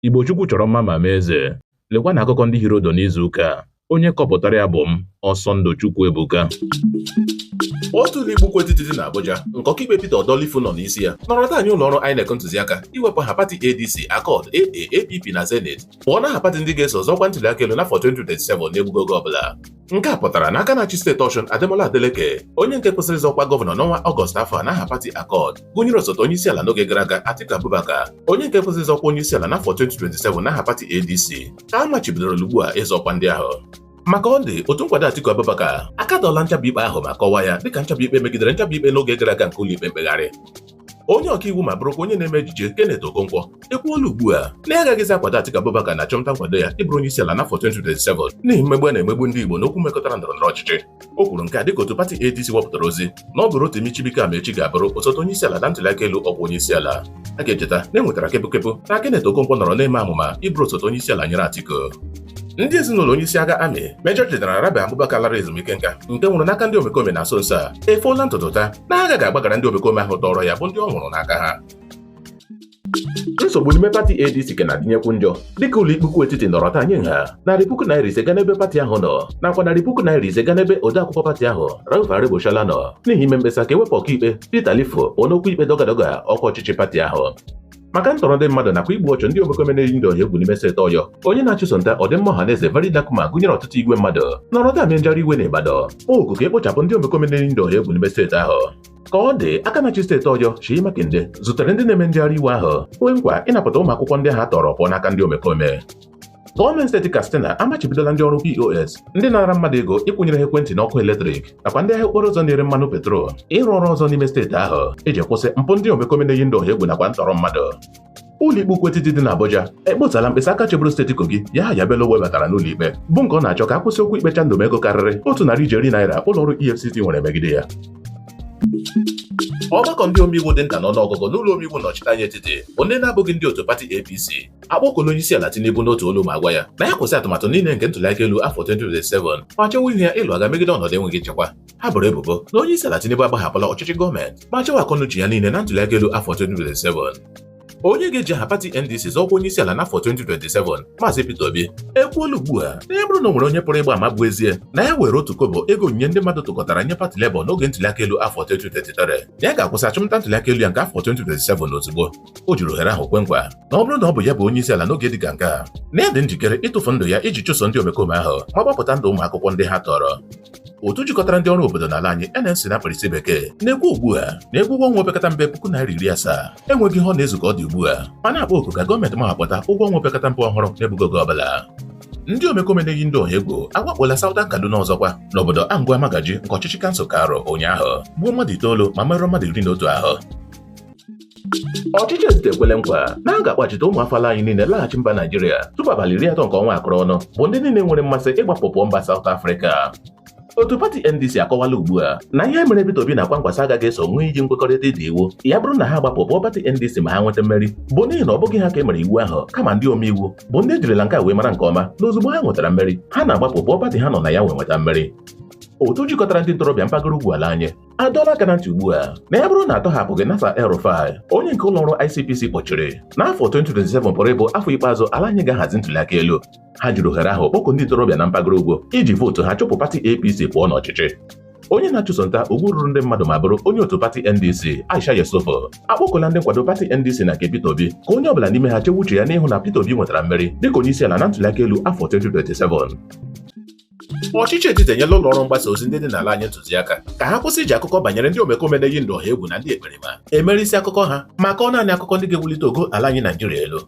Igbo Chukwu chọrọ mma ma mee eze. Lekwa na akụkọ ndị hiri ụdụ n'izu ụka a. Onye kọpụtara ya bụ m, Ọsọndụ Chukwuebuka. otu ụlọ ikpe ukwu etiti dị n'Abuja nke ọkaikpe Peter Odo Lifu nọ n'isi ya nọrọ taa nye ụlọ ọrụ INEC ntụziaka iwepụ aha pati ADC Accord AA APP na Zenith pụọ n'aha pati ndị ga-eso zọọ ọkwa ntụliaka elu n'afọ 2027 n'egbughị oge ọbụla nke a pụtara na aka na-achị steeti Ọshụn Ademola Adeleke onye nke kwesịrị ịzọ ọkwa gọvanọ n'ọnwa Ọgọst afọ a n'aha pati Accord gụnyere osote onye isi ala n'oge gara aga Atiku Abubakar onye nke kwesịrị ịzọ ọkwa onye isi ala n'afọ 2027 n'aha pati ADC ka a machibidoro ugbu a ịzọ ọkwa ndị ahụ ma ka ọ dị otu nkwado Atiku Abubakar akatọọla nchabi ikpe ahụ ma kọwaa ya dịka nchabi ikpe megidere nchabi ikpe n'oge gara aga nke ụlọikpe mkpegharị onye ọkaiwu ma bụrụkwa onye na-eme ejije Kenneth Okonkwo ekwuola ugbu a na ya agaghịzi akwado Atiku Abubakar n'achụmnta nkwado ya ịbụrụ onye isi ala n'afọ 2027 n'ihi mmegbu a na-emegbu ndị Igbo n'okwu mekọtara ndọrọ ndọrọ ọchịchị o kwuru nke a dịka otu pati ADC wepụtara ozi na ọ bụ Rotimi Chibuike Amaechi ga-abụrụ osote onye isi ala na ntụliaka elu ọkwa onye isi ala a ga-echeta na e nwetara kepụkepụ na Kenneth Okonkwo nọrọ na-eme amụma ịbụrụ osote onye isi ala nyere Atiku ndị ezinụlọ onye isi agha amị Major General Rabe Abubakar lara ezumike nka nke nwụrụ n'aka ndị omekome na nso nso a efoola ntutu taa na ha agaghị agbaghara ndị omekome ahụ tọrọ ya bụ ndị ọ nwụrụ n'aka ha nsogbu n'ime pati ADC ka na-adịnyekwu njọ dịka ụlọ ikpe ukwu etiti nọrọ taa nye nha narị puku naira ise ga n'ebe pati ahụ nọ nakwa narị puku naira ise ga n'ebe odeakwụkwọ pati ahụ Rauf Aregbesola nọ n'ihi ime mkpesa ka e wepụ ọkaikpe Peter Lifu n'okwu ikpe dọgadọga ọkwa ọchịchị pati ahụ maka ntọrọ ndị mmadụ nakwa igbu ọchụ ndị omekome na-eyi ndị ọha egwu n'ime steeti Ọyọ onye na-achụso nta ọdịmma ọha na eze VeryDarkMan gụnyere ọtụtụ igwe mmadụ nọrọ taa mee njegharị iwe na Ibadan n'oku ka e kpochapụ ndị omekome na-eyi ndị ọha egwu n'ime steeti ahụ ka ọ dị aka na-achị steeti Ọyọ Seyi Makinde zutere ndị na-eme njegharị iwe ahụ kwee nkwa ịnapụta ụmụ akwụkwọ ndị ha tọrọ pụọ n'aka ndị omekome Gọọmenti steeti Katsina amachibidola ndị ọrụ POS ndị na-ara mmadụ ego ịkwụnyere ha ekwentị n'ọkụ eletrik nakwa ndị ahịa okporo ụzọ na-ere mmanụ petrol ịrụ ọrụ ọzọ n'ime steeti ahụ iji kwụsị mpụ ndị omekome na-eyi ndị ọha egwu nakwa ntọrọ mmadụ ụlọikpe ukwu etiti dị n'Abuja ekpotala mkpesa aka chịburu steeti Kogi Yahaya Bello webatara n'ụlọikpe bụ nke ọ na-achọ ka a kwụsị okwu ikpe chandum ego karịrị otu narị ijeri naira ụlọọrụ EFCC nwere megide ya ọgbakọ ndị omeiwu dị nta n'ọnụọgụgụ n'ụlọ omeiwu nnọchite anya etiti bụ ndị na-abụghị ndị otu pati APC akpọkuola onye isi ala Tinubu n'otu olu ma gwa ya na ya kwụsị atụmatụ niile nke ntụliaka elu afọ 2027 ma chewa ihu ya ịlụ agha megide ọnọdụ enweghị nchekwa ha boro ebubo na onye isi ala Tinubu agbahapụla ọchịchị gọọmenti ma chewa akọnuche ya niile na ntụliaka elu afọ 2027 onye ga-eji aha pati NDC zọọ ọkwa onye isi ala n'afọ 2027 Maazị Peter Obi ekwuola ugbu a na ya bụrụ na o nwere onye pụrụ ịgba ama bụ ezie na ya weere otu kobo ego onyinye ndị mmadụ tụkọtara nye pati Labour n'oge ntụliaka elu afọ 2023 na ya ga-akwụsị achụmnta ntụliaka elu ya nke afọ 2027 ozugbo o jiri ohere ahụ kwe nkwa na ọ bụrụ na ọ bụ ya bụ onye isi ala n'oge dị ka nke a na ya dị njikere ịtụfu ndụ ya iji chụso ndị omekome ahụ ma gbapụta ndụ ụmụ akwụkwọ ndị ha tọrọ otu jikọtara ndị ọrụ obodo n'ala anyị NLC na mkpirisi bekee na-ekwu ugbu a na ego ụgwọ ọnwa opekata mpe puku naira iri asaa enweghị ihe ọ na-ezu ka ọ dị ugbu a ma na-akpọ oku ka gọọmenti mahapụta ụgwọ ọnwa opekata mpe ọhụrụ n'egbughị oge ọbụla ndị omekome na-eyi ndụ ọha egwu awakpola Southern Kaduna ọzọkwa n'obodo Angwa Magaji nke ọchịchị kansụl Kauru ụnyaahụ gbuo mmadụ itoolu ma merụọ mmadụ iri na otu ahụ Ọchịchị etiti ekwele nkwa na a ga-akpachite ụmụ afọ ala anyị niile laghachi mba Naijiria tupu abalị iri atọ nke ọnwa akụrụ ọnụ bụ ndị niile nwere mmasị ịgbapụ pụọ mba Saụt Afrịka otu pati ndc akọwala ugbu a na ihe mere Peter Obi na Kwankwaso agaghị eso ṅụọ iyi nkwekọrịta ịda iwu ya bụrụ na ha gbapụ pụọ pati ndc ma ha nweta mmeri bụ n'ihi na ọ bụghị ha ka e mere iwu ahụ kama ndị omeiwu bụ ndị ejirila nke a wee mara nke ọma na ozugbo ha nwetara mmeri ha na-agbapụ pụọ pati ha nọ na ya wee nweta mmeri otu jikọtara ndị ntorobịa mpaghara ugwu ala anyị adọọla aka na ntị ugbu a na ya bụrụ na atọhapụghị Nasir El-Rufai onye nke ụlọọrụ ICPC kpọchiri na afọ 2027 pụrụ ịbụ afọ ikpeazụ ala anyị ga-ahazi ntụliaka elu ha jiri ohere ahụ kpọkuo ndị ntorobịa na mpaghara ugwu iji vootu ha chụpụ pati APC pụọ n'ọchịchị onye na-achụso nta ugwu ruru ndị mmadụ ma bụrụ onye otu pati NDC Aisha Yesufu akpọkuola ndị nkwado pati NDC na nke Peter Obi ka onye ọbụla n'ime ha chewe uche ya n'ịhụ na Peter Obi nwetara mmeri dịka onye isi ala na ntụliaka elu afọ 2027 Ọchịchị etiti enyela ụlọ ọrụ mgbasa ozi ndị dị n'ala anyị ntụziaka ka ha kwụsị iji akụkọ banyere ndị omekome na-eyi ndụ ọha egwu na ndị ekperima emere isi akụkọ ha ma kọọ naanị akụkọ ndị ga-ewulite ogo ala anyị Naijiria elu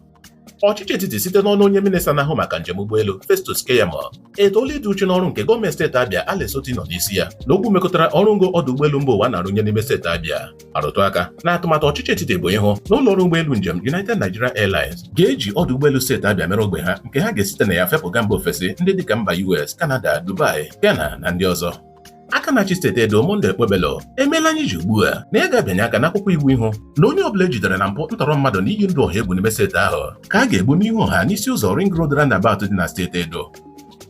ọchịchị etiti site n'ọnụ onye minista na-ahụ maka njem ụgbọelu Festus Keyamo etoola ịdị uchu n'ọrụ nke gọọmenti steeti Abia Alex Otti nọ n'isi ya n'okwu mekọtara ọrụ ngo ọdụ ụgbọelu mba ụwa na-arụnye n'ime steeti Abia arụtụ aka na atụmatụ ọchịchị etiti bụ ịhụ na ụlọ ọrụ ụgbọelu njem United Nigeria Airlines ga-eji ọdụ ụgbọelu steeti Abia mere ogbe ha nke ha ga-esite na ya fepụga mba ofesi ndị dịka mba US, Canada, Dubai, Ghana na ndị ọzọ aka na-achị steeti Edo Monday Okpebholo emeela anyị ji ugbu a na ya ga-abịanye aka n'akwụkwọ iwu ịhụ na onye ọbụla ejidere na mpụ ntọrọ mmadụ na iyi ndụ ọha egwu n'ime steeti ahụ ka a ga-egbu n'ihu ọha n'isi ụzọ Ring Road roundabout dị na steeti Edo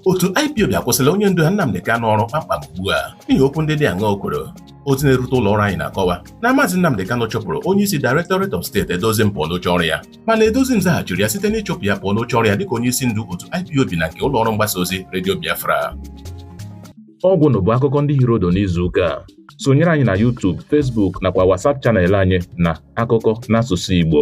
otu IPOB akwụsịla onye ndu ha Nnamdi Kanu ọrụ kpamkpam ugbu a n'ihi okwu ndị dị aṅaa o kwuru ozi na-erute ụlọ ọrụ anyị na-akọwa na Maazị Nnamdị Kanụ chụpụrụ onye isi Directorate of State Edoziem pụọ n'oche ọrụ ya mana Edoziem zaghachiri ya site n'ịchụpụ ya pụọ n'oche ọrụ ya dịka onye isi ndu otu IPOB na nke ụlọ ọrụ mgbasa ozi redio Biafra ọgwụ na bụ akụkọ ndị hiri udu n'izu ụka a sonyere anyị na YouTube, Facebook nakwa WhatsApp channel anyị na akụkọ n'asụsụ Igbo